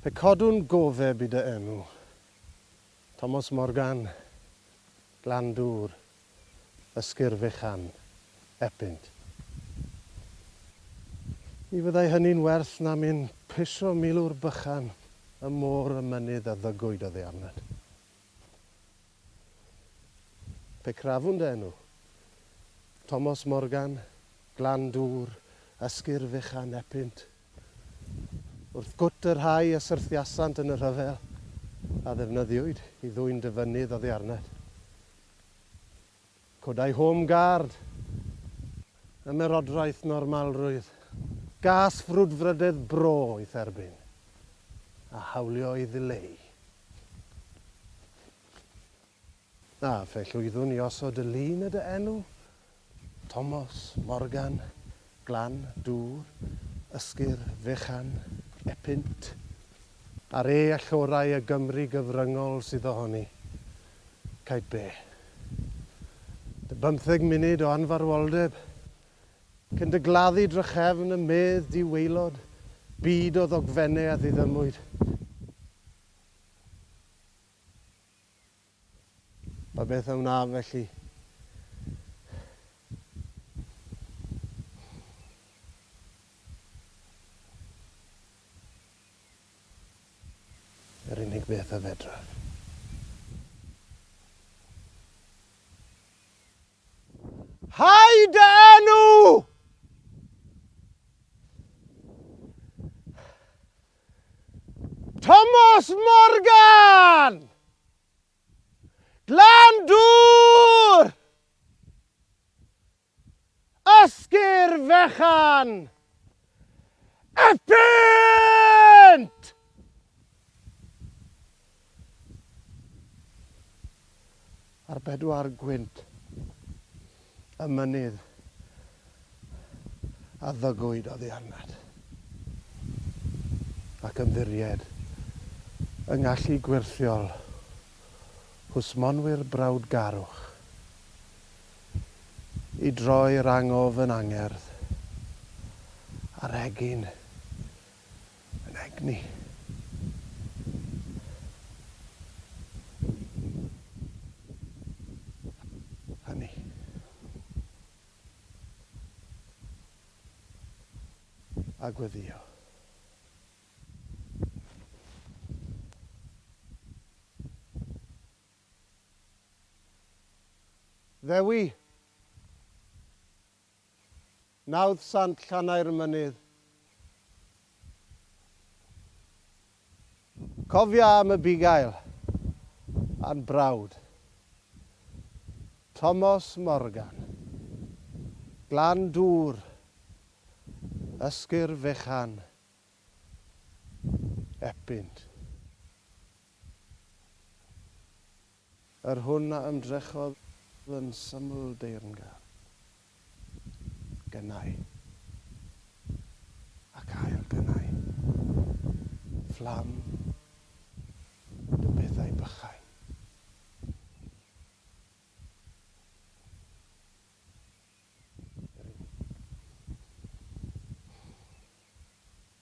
Pe cadwn gofeb i dy enw. Thomas Morgan, Glan Dŵr. Ysgyrdd fechan, epynt. Ni fyddai hynny'n werth na myn pisio milwr bychan ym môr y mynydd a ddygwyd oddi arnat. Pe crafwn dy enw. Tomos Morgan, Glan Dŵr, Ysgyrdd fechan, epynt. Wrth gwt y rhai a syrthiasant yn y rhyfel, a ddefnyddiwyd i ddwyn dy fynydd oddi arnat. Codai Home Guard Ymerodraeth Normalrwydd gas frwdfrydedd bro i'th erbyn, a hawlio ei ddileu. A fe llwyddwn i osod y lun y dy enw Tomos, Morgan, Glan, Dŵr, Ysgur, Fechan, Epynt, a'r E allorau y Gymru gyfryngol sydd ohoni. Caib be? Dy bymtheg munud o anfarwoldeb, cyn dy gladdu drachefn y medd di waelod, byd o ddogfennau a ddiddymwyd. Pa beth a wnaf felly? Yr unig beth a fedraf. Hau dy enw! Tomos Morgan! Glandŵr! Ysgir fechan! Epynt! Ar bedwar gwynt y mynydd a ddygwyd oddi arnat, ac ymddiried yng ngallu gwyrthiol hwsmonwyr brawdgarwch i droi'r angof yn angerdd a'r egin yn egni. Hynny. A gweddio. Ddewi! Nawdd Sant Llanae'r Mynydd. Cofia am y bugail a'n brawd. Tomos Morgan. Glan Dŵr. Ysgur Fechan. Epynt. Yr hwn a ymdrechodd yn syml deyrngar gynau ac ail gynau, fflam dy bethau bychain. Yr hyn.